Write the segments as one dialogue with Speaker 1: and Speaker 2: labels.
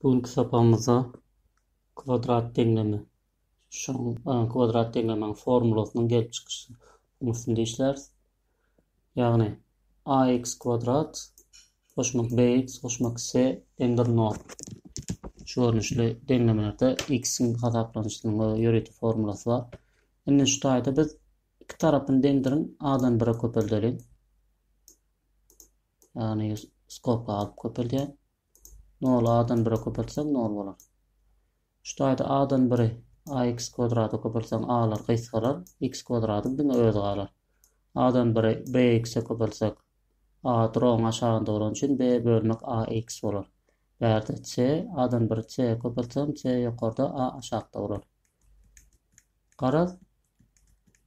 Speaker 1: Bu günki sapagymyzda kwadrat deňleme, şoň kwadrat deňlemäň formulasynyň gelip çykyşy üstünde işläris. Ýagny ax kwadrat goşmak bx goşmak c deňdir 0. Şu görnüşli deňlemelerde x-iň hasaplanyşynyň we ýörite formulasy bar. Indi şu taýda biz iki tarapyny deňdiriň a-dan 1-e köpeldeliň. Ýagny skobka alyp köpeldýär. Noly A-dan 1-e köpeltseň 0 bolar. Şu taýda A-dan 1-i ax kwadrata köpeltseň A-lar gysgalar, x kwadradyň diňe özi galar. A-dan 1-i bx-e köpeltsek A drogyň aşagynda bolany üçin b bölmek ax bolar. Bärde c, A-dan 1-i c-e köpeltsem c ýokarda a aşakda bolar. Garaz,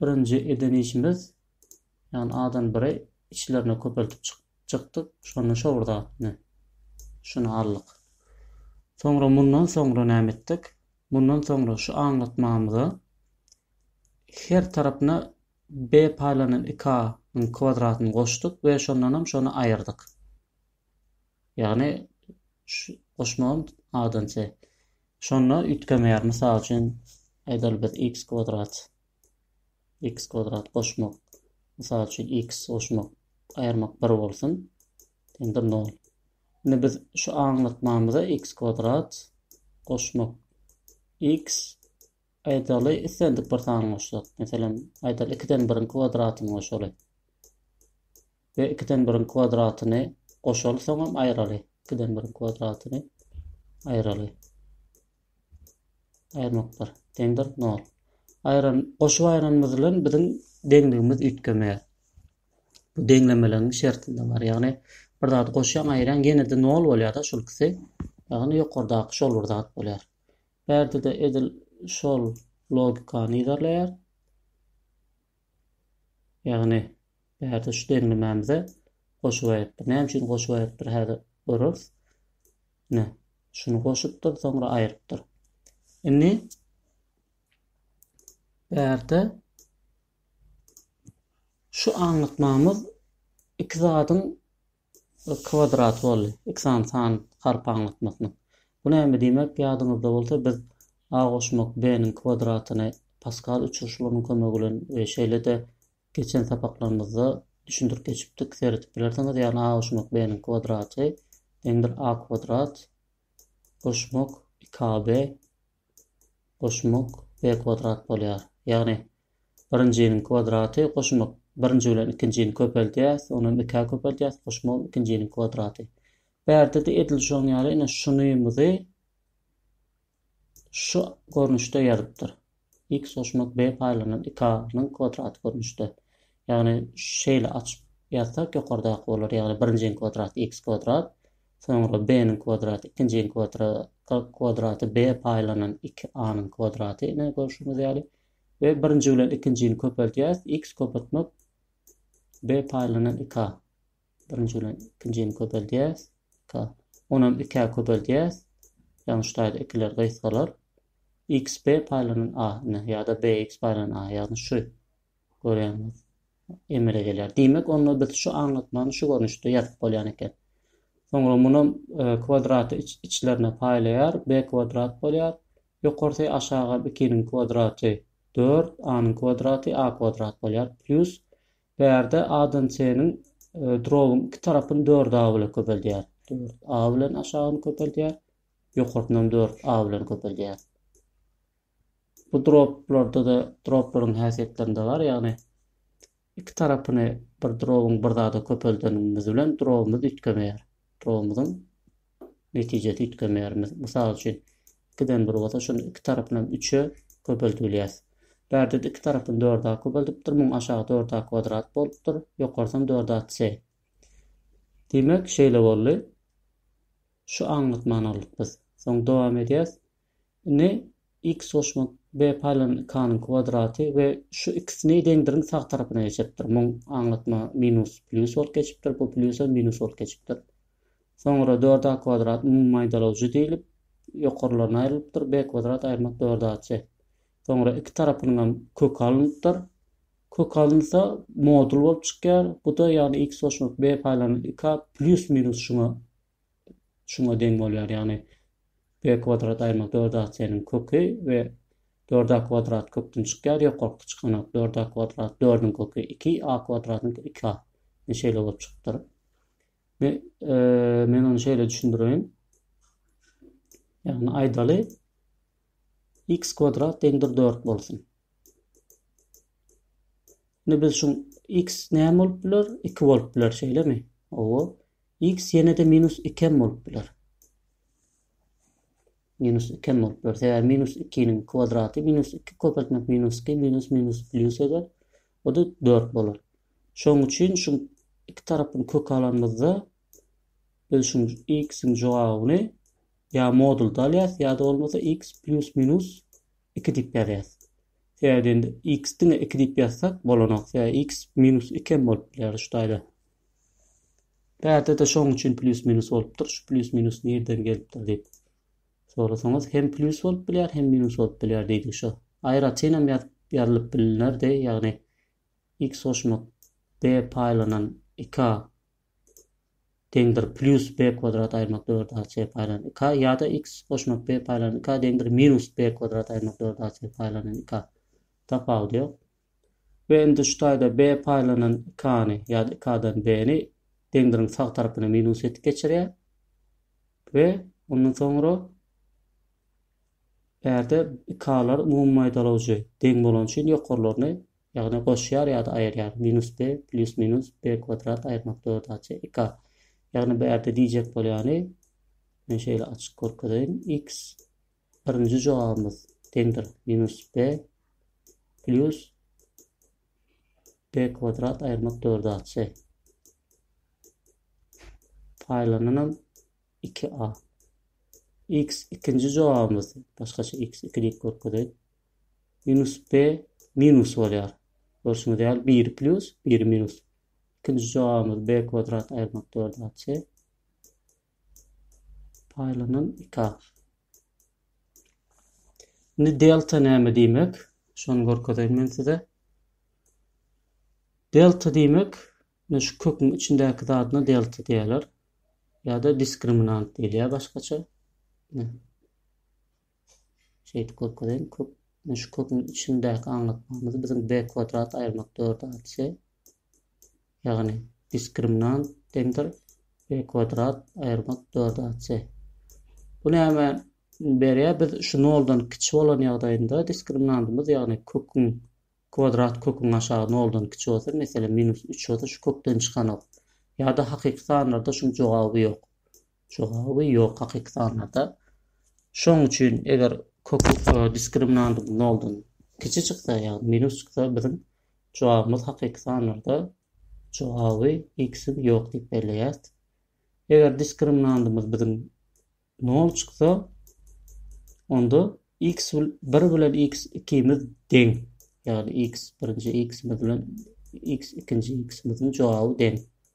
Speaker 1: birinji eden işimiz Ýagny adam biri içlerini köpeltip çykdy, şonda şowurda atdy. Şuny aldyk. Soňra mundan soňra näme etdik? Mundan soňra şu aňlatmamyza her tarapyna b paýlanan 2a nyň kwadratyny goşduk we şondan hem şony aýyrdyk. Ýagny şu goşmagym a-dan c. Şonda üýtgemeýär. Mysal üçin, aýdaly biz x kwadrat x kwadrat goşmak, mysal üçin, x goşmak, aýyrmak bir bolsun, deňdir nol. Indi biz şu aňlatmamyza x kwadrat goşmak x aýdaly islendik bir sany goşsak, meselem, aýdaly 2-den 1-iň kwadratyny goşaly. we ikiden biriň kwadratyny goşaly, soňam aýraly, ikiden biriň kwadratyny aýraly. Aýyrmaklar deňdir 0. Aýran, goşup aýranymyz bilen biziň deňligimiz üýtgemeýär. Bu deňlemeligiň şertinde bar. Ýagny bir zady goşýan aýran ýene-de 0 bolýar-da şol ikisi. Ýagny ýokardaky şol bir zat bolýar. Bärde-de edil şol logikany yzarlaýar. Ýagny Bärde şu deňlemämize goşup aýrypdyr. Näme üçin goşup aýrypdyr häzir görüris. Ine, şuny goşupdyr, soňra aýrypdyr. Indi bärde şu aňlatmamyz iki zadyň kwadrat boldy. Iki sany san harp aňlatmasynyň. Bu näme diýmek? Ýadyňyzda bolsa biz A goşmak B-niň kwadratyny Paskal uçurşylygynyň kömegi bilen we şeýle-de Geçen sapaklarymyzda düşündirip geçipdik, seredip bilersiňiz. Ýagny a goşmak b-niň kwadraty deňdir a kwadrat goşmak iki ab goşmak b kwadrat bolýar. Ýagny birinjiniň kwadraty goşmak birinji bilen ikinjini köpeldýäs, ony hem ikä köpeldýäs, goşmak ikinjiniň kwadraty. Bärde-de edil şoň ýaly ine şunymyzy şu görnüşde ýazypdyr, X goşmak B paýlanan iki A nyň kwadraty görnüşde. Ýagny şeýle açyp ýazsak ýokardaky bolar, ýagny birinjiň kwadraty X kwadrat, soňra B nyň kwadraty ikinjiň kwadraty B paýlanan iki A nyň kwadraty ine görşüňiz ýaly we birinji bilen ikinjini köpeldýäs X köpeltmek B paýlanan iki A. Birinji bilen ikinjini köpeldýäs. K. Onam ikä köpeldýäs. Ýagny şu taýda ikiler gysgalar. X B paýlanan A ne ýa-da B X paýlanan A ýagny şu. Görýäňiz. Emele gelýär. Diýmek, onda biz şu aňlatmany şu görnüşde ýazyp bolýan eken. Soňra munam e, kwadraty iç, içlerine paýlaýar. B kwadrat bolýar. Ýokarsy aşaga 2-niň kwadraty 4, A-nyň kwadraty A kwadrat bolýar. Plus Bärde ADNC-niň droguň iki tarapyny dört A bilen köpeldýär. Dört A bilen aşagyny köpeldýär. Ýokarsynam dört A bilen köpeldýär. Bu droplarda-da droplaryň häsiýetlerinde bar, ýagny iki tarapyny bir droguň bir zada köpeldeniňimiz bilen drogumyz üýtgemeýär. Drogumyzyň netijesi üýtgemeýärmiz. Mysal üçin, ikiden bir bolsa, şonda iki tarapynam üçe köpeltip bilýäs. Bärde-de iki tarapyny dörd a köpeltipdir, muň aşagy dörd a kwadrat bolupdyr, ýokarsam dörd a c. Diýmek, şeýle boldy. Şu aňlatmany aldyk biz. Soň dowam edýäs. Indi x goşmak b paýlanan k-nyň kwadraty we şu ikisini deňdiriň sag tarapyna geçiripdir. Muň aňlatma minus plýus bolup geçipdir, bu plýusam minus bolup geçipdir. Soňra dört a kwadrat umumy maýdalawjy diýlip, ýokarlaryna aýrylypdyr, b kwadrat aýyrmak dört a c. Soňra iki tarapynyňam köki alnypdyr. Kök alynsa modul bolup çykýar. Bu-da ýagny x goşmak b paýlanan iki a plýus minus şuňa şuňa deň bolýar, ýagny b kwadrat aýrymak dört a c-niň köki we dört a kwadrat kökden çykýar, ýokarky çykanak dört a kwadrat dördüň köki iki a kwadratyň iki a. Ine şeýle bolup çykypdyr. Me- e, Men ony şeýle düşündireýin. Ýagny aýdaly x kwadrat deňdir dört bolsun. Indi biz şu x näme bolup biler? 2 bolup biler, şeýlemi? Owo. X ýene-de minus iki hem bolup biler. Minus iki hem bolup biler. Sebäbi minus ikiniň kwadraty minus iki köpeltmek minus iki minus minus plýus eder. O-da dört bolar. Şonuň üçin şu iki tarapyny köke alanymyzda biz şu x-iň jogabyny ýa modulda alýas, ýa-da bolmasa x plýus minus iki diýip ýazýas. Sebäbi indi x diňe iki diýip ýazsak bolanok. Sebäbi x minus iki hem bolup biler şu taýda. Bärde-de şoň üçin plýus-minus bolupdyr. Şu plýus-minus nirden gelipdir diýip sorasaňyz, hem plýus bolup bilýär, hem minus bolup bilýär diýdik şo. Aýratyn hem ýazyp ýazylyp bilnerdi, ýagny x goşmak b paýlanan iki a deňdir plýus b kwadrat aýyrmak dört a c paýlanan iki a ýa-da x goşmak b paýlanan iki a deňdir minus b kwadrat aýyrmak dört a c paýlanan iki a. Tapawudy ýok. we indi şu taýda B paýlanan iki A-ny ýa-da iki A-dan B-ni deňdiriň sag tarapyna minus edip geçirýär we ondan soňra bärde iki A-lar umumy maýdalawjy deň bolany üçin ýokarlaryny ýagny goşýar ýa-da aýyrýar minus B plyus minus B kwadrat aýyrmak dört A çe iki A ýagny bärde diýjek bolýany men şeýle açyk görkezeýin x Birinji jogabymyz deňdir minus b plus b kwadrat aýyrmak dörde atse. Paýlananam 2a. x ikinji jogabymyz başgaça x 2 diýip görkezeýin. Minus b minus bolýar. Görşüňiz ýaly 1 plus 1 minus. Ikinji jogabymyz b kwadrat aýyrmak dörde atse. Paýlanan iki agyz. Indi delta näme diýmek? Şony görkezeýin men size. Delta diýmek, ine şu köküň içindäki zadyna delta diýerler. Ýa-da diskriminant diýilýär başgaça. Şeýdip görkezeýin. Kök, ine şu köküň içindäki aňlatmamyzy biziň B kwadrat aýyrmak dörde aýtsy, ýagny diskriminant deňdir B kwadrat aýyrmak dörde aýtsy. Bu näme berýär? Biz şu noldan kiçi bolan ýagdaýynda diskriminantymyz, ýagny köküň kwadrat köküň aşagy noldan kiçi bolsa, meselem, minus üç bolsa şu kökden çykanok. Ýa-da hakyky sanlarda şuň jogaby ýok. Jogaby ýok hakyky sanlarda. Şoň üçin eger köki diskriminandyň noldan kiçi çyksa ýagny minus çyksa biziň jogabymyz hakyky sanlarda jogaby x-iň ýok diýip belleýäs. Eger diskriminandymyz biziň nol çyksa onda x bir bilen x ikimiz deň ýagny x birinji x-imiz bilen x ikinji x-imiziň jogaby deň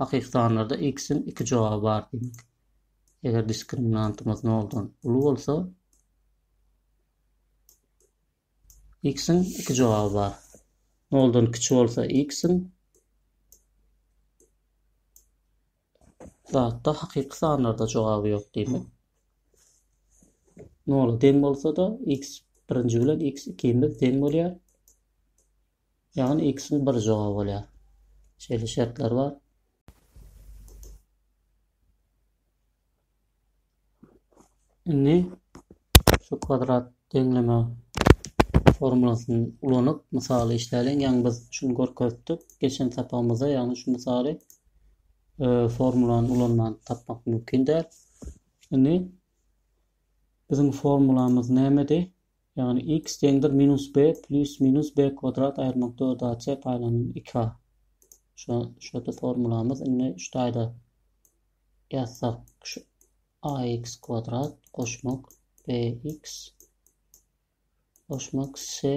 Speaker 1: Hakykytanlarda X-iň iki jogaby bar diýmek. Eger diskriminantymyz noldan uly bolsa X-iň iki jogaby bar. Noldan kiçi bolsa X-iň zatda hakyky sanlarda jogaby ýok diýmek. Nola deň bolsa-da x birinji bilen x ikimiz deň bolýar. Ýagny x-iň bir jogaby bolýar. Şeýle şertler bar. Indi şu kwadrat deňleme formulasyny ulanyp mysaly işläliň. Ýagny biz şuny görkezdik. Geçen sapagymyzda ýagny şu misaly e, formulany ulanman tapmak mümkin däl. Indi biziň formulamyz nämedi? Ýagny x deňdir minus b plis minus b kwadrat aýyrmak dört a c paýlanylan iki a. Şo şo-da formulamyz indi şu taýda ýazsak şu a x kwadrat goşmak b x goşmak c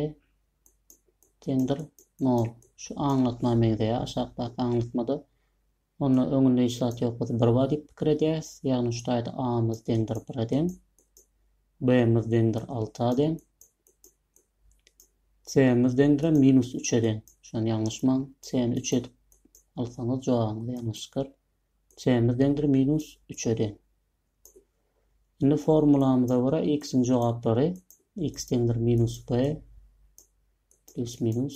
Speaker 1: deňdir nol. Şu aňlatma meňzeýär aşakdaky aňlatmada Onda öňünde hiç zat ýok biz bir ba diýip pikir edýäris. Ýagny şu taýda a-myz deňdir bire deň. B-miz deňdir alta deň. C-miz deňdirem minus üçe deň. Şony ýalňyşmaň. C-ni üç edip alsaňyz jogabyňyz ýalňyş çykar. C-miz deňdir minus üçe deň. Indi formulamyza görä x-iň jogaplary x deňdir minus b plus minus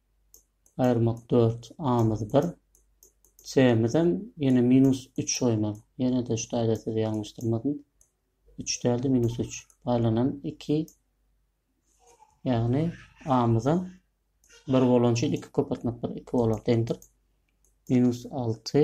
Speaker 1: aýyrmak dört, a-myz bir, c-mizem ýene minus üç goýmaly. Ýene-de şu taýda sizi ýalňyşdyrmadym. Üç däl-de minus üç. Paýlanan iki, ýagny a-myzam bir bolan üçin iki köpeltmek bir, iki bolar, deňdir. Minus alty,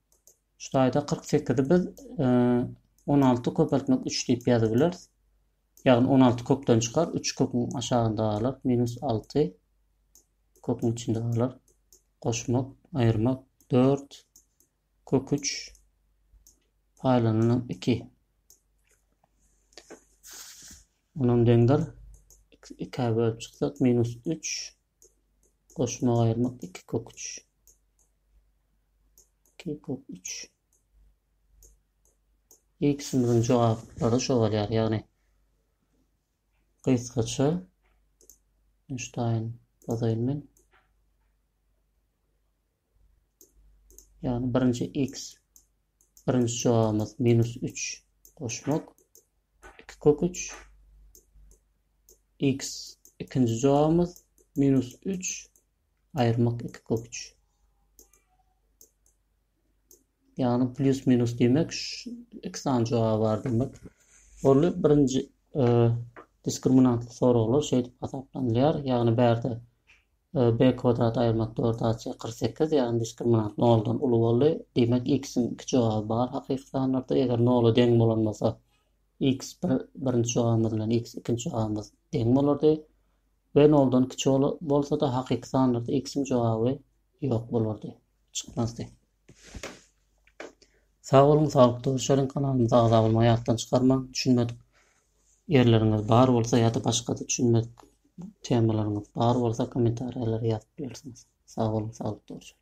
Speaker 1: Şu taýda kyrk sekizi biz e, on alty köpeltmek üç diýip ýazyp bileris. Ýagny on alty kökden çykar, üç köküň aşagynda galar, minus alty köküň içinde galar. Goşmak, aýyrmak, dört kök üç paýlanylan iki. Onam deňdir. 2 bölüp çyksak minus 3 Goşmagy aýyrmak iki kök üç. Iki kök üç. Ikisimiziň jogaplary şo bolýar, ýagny gysgaça Einstein bozaýyn men. Ýagny birinji x birinji jogabymyz minus üç goşmak iki kök üç x ikinji jogabymyz minus üç aýyrmak iki kök üç. Ýagny plus minus diýmek iki sany jogaby bar demek. Ol birinji e, diskriminantly soraglar şeýdip hasaplanylýar. Ýagny bärde B kwadrat aýyrmak dörde aç kyrk sekiz, ýagny diskriminant noldan uly boldy. Diýmek, x-iň iki jogaby bar hakyky sanlarda, eger nola deň bolan bolsa, x bir birinji jogabymyz bilen x ikinji jogabymyz deň bolardy we noldan kiçi bolsa-da hakyky sanlarda x-iň jogaby ýok bolardy, çykmazdy. Sag boluň saglyk duşalyň kanalymyza agza bolmagy ýatdan çykarmaň düşünmedik ýerleriňiz bar bolsa ýada başgada düşünmedik temalaryňyz bar bolsa komentariýalara ýazyp bilersiňiz sag boluň saglyk duşalyň.